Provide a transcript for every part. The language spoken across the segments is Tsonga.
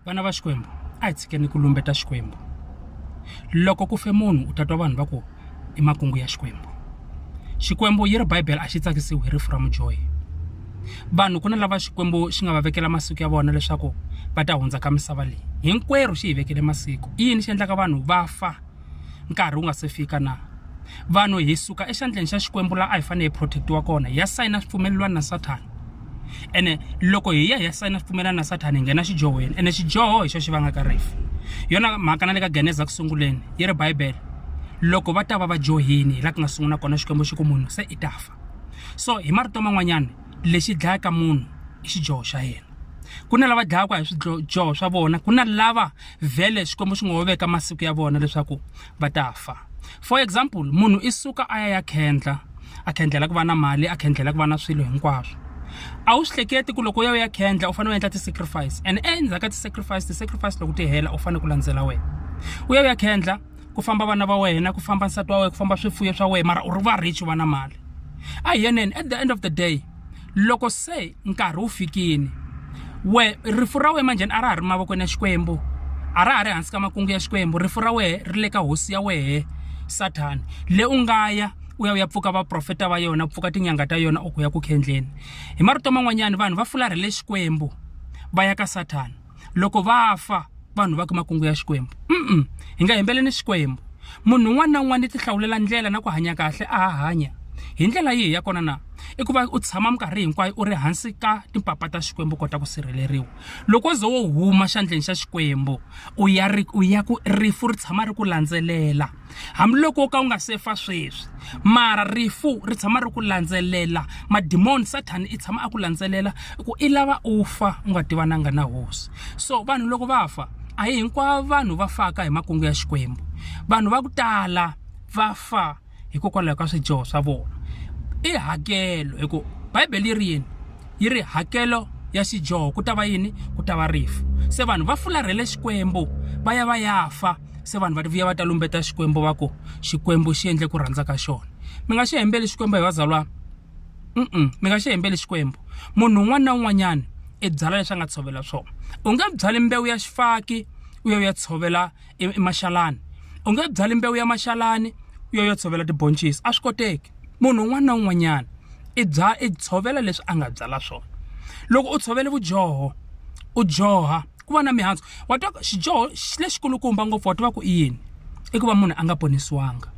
vana va xikwembu a hi tshikeni ku lumbeta xikwembu loko ku fe munhu u ta twa vanhu va ku i makungu ya xikwembu xikwembu yi ri bibele a xi tsakisiwi hi rifu ra mudyohi vanhu ku na lava xikwembu xi nga va vekela masiku ya vona leswaku va ta hundza ka misava leyi hinkwerhu xi hi vekele masiku i yini xi endlaka vanhu va fa nkarhi wu nga se fika na vanhu hi suka exandleni xa xikwembu laha a hi fanele hi protect-iwa kona hi ya sayina swipfumelelwani na sathana ene loko hi ya hi ya sayina swipfumelelwani na sathana hi nghena xidyohweni ene xidyoho hi xo xi vangaka rifu yona mhaka na le ka geneza ku sunguleni yi ri bibele loko va ta va va dyohini hi laha ku nga sungula kona xikwembu xi ku munhu se i ta fa so hi marito man'wanyana lexi dlayaka munhu i xidyoho xa yena ku na lava dlayaka hi swidyoho swa vona ku na lava vhele xikwembu xi ngo ho veka masiku ya vona leswaku va ta fa for example munhu i suka a ya ya khendla a khendlela ku va na mali a khendlela ku va na swilo hinkwaswo a wu swi hleketi ku loko u ya u ya khendla u fanele u endla ti-sacrifice and endzhaku ka ti-sacrifice ti-sacrifice loko ti hela u fanele ku landzela wena u ya u ya khendla ku famba vana va wena ku famba nsati wa wena ku famba swifuyo swa wena mara u ri va rich va na mali a hi yeneni at the end of the day loko se nkarhi wu fikini we rifu ra we manjhani a ra ha ri mavokweni ya xikwembu a ra ha ri hansi ka makungu ya xikwembu rifu ra wehe ri le ka hosi ya wehe sathana le u nga ya u ya u ya pfuka vaprofeta va yona pfuka tinyanga ta yona u ku ya ku khendleni hi marito man'wanyana vanhu va fularhele xikwembu va ya ka sathana loko va fa vanhu va ka makungu ya xikwembu mm hi nga hembele ni xikwembu munhu un'wana na un'wana i tihlawulela ndlela na ku hanya kahle a ha hanya hi ndlela yihi ya kona na i ku va u tshama minkarhi hinkwayo u ri hansi ka timpapa ta xikwembu u kota ku sirheleriwa loko wo ze wo huma xandleni xa xikwembu u ya ri u ya ku rifu ri tshama ri ku landzelela hambiloko wo ka wu nga se fa sweswi mara rifu ri tshama ri ku landzelela madimoni sathana i tshama a ku landzelela ku i lava u fa u nga tivananga na hosi so vanhu loko va fa a hi hinkwavo vanhu va faka hi makungu ya xikwembu vanhu va ku tala va fa hikokwalaho ka swidyoho swa vona i hakelo hi ku bibele yi ri yini yi ri hakelo ya xidyoho ku ta va yini ku ta va rifu se vanhu va fularhele xikwembu va ya va ya fa se vanhu va ti vuya va ta lumbeta xikwembu va ku xikwembu xi endle ku rhandza ka xona mi nga xi hembeli xikwembu hi vazalwa mm mi nga xi hembeli xikwembu munhu un'wana na un'wanyana i byala leswi a nga tshovela swona u nge byali mbewu ya xifaki u ya u ya tshovela emaxalani u nge byali mbewu ya maxalani u ya u ya tshovela tiboncisi a swi koteki munhu un'wana na un'wanyana i bya i tshovela leswi a nga byala swona loko u tshovele vudyoho u dyoha ku va na mihandzu wa twa xidyoho lexikulukumba ngopfu wa tiva ku i yini i ku va munhu a nga ponisiwanga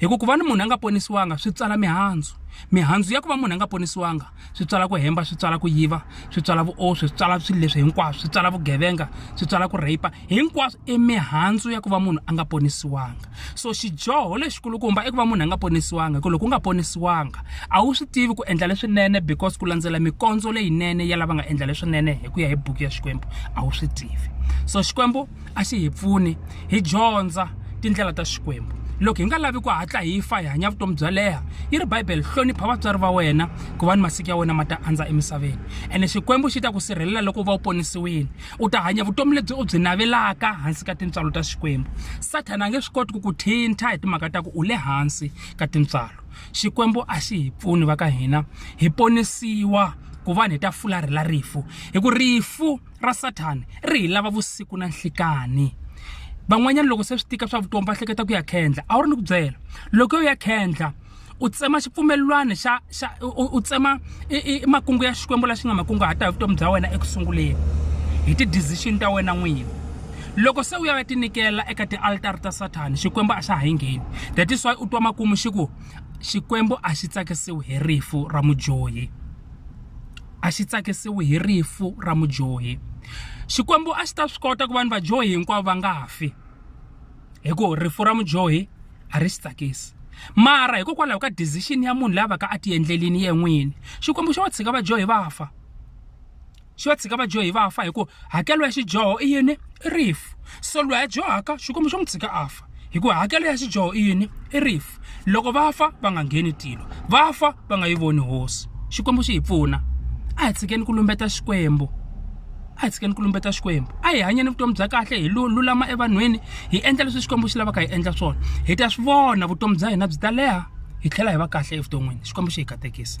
hi ku ku va ni munhu a nga ponisiwanga swi tswala mihandzu mihandzu ya ku va munhu a nga ponisiwanga swi tswala ku hemba swi tswala ku yiva swi tswala vuoswi swi tswala swilo leswi hinkwaswo swi tswala vugevenga swi tswala ku rhayipa hinkwaswo i mihandzu ya ku va munhu a nga ponisiwanga so xidyoho lexikulukumba i ku va munhu a nga ponisiwanga hi ku loko u nga ponisiwanga a wu swi tivi ku endla leswinene because ku landzela mikondzo leyinene ya lava nga endla leswinene hi ku ya hi buku ya xikwembu a wu swi tivi so xikwembu a xi hi pfuni hi dyondza tindlela ta xikwembu loko hi nga lavi ku hatla hi fa hi hanya vutomi byo leha yi ri bibele hlonipha vatswari va wena ku va ni masiku ya wena ma ta andza emisaveni ene xikwembu xi ta ku sirhelela loko u va u ponisiwile u ta hanya vutomi lebyi u byi navelaka hansi ka tintswalo ta xikwembu sathana a nge swi koti ku ku thintha hi timhaka ta ku u le hansi ka tintswalo xikwembu a xi hi pfuni va ka hina hi ponisiwa ku vanhu hi ta fularhi la rifu hi ku rifu ra sathana ri hi lava vusiku na nhlikani van'wanyana loko se swi tika swa vutomi va hleketa ku ya khendla a wu ri ni ku byela loko yo ya khendla u tsema xipfumelelwani xa xa u tsema makungu ya xikwembu la xi nga makunguhata hi vutomi bya wena eku sunguleni hi ti-decision ta wena n'wini loko se u ya ya tinikela eka tialtara ta sathana xikwembu a xa ha yi ngheni that is why u twa makumu xi ku xikwembu a xi tsakisiwi hi rifu ra mudyohi a xi tsakisiwi hi rifu ra mudyohi xikwembu a xi ta swi kota ku vanhu vadyohi hinkwavo va nga fi hi ku rifu ra mudyohi a ri swi tsakisi mara hikokwalaho ka decision ya munhu lava ka a ti endlelini ye n'wini xikwembu xo va tshika vadyohi va fa xi va tshika vadyohi va fa hikuva hakelo ya xidyoho i yini i rifu so loyi a dyohaka xikwembu xo n'wi tshika a fa hikuva hakelo ya xidyoho i yini i rifu loko va fa va nga ngheni tilo va fa va nga yi voni hosi xikwembu xi hi pfuna a hi tshikeni ku lumbeta xikwembu a hi tshikeni ku lumbeta xikwembu a hi hanyeni vutomi bya kahle hi lulama evanhwini hi endla leswi xikwembu xi lavaka hi endla swona hi ta swi vona vutomi bya hina byi ta leha hi tlhela hi va kahle evuton'wini xikwembu xi hi katekisa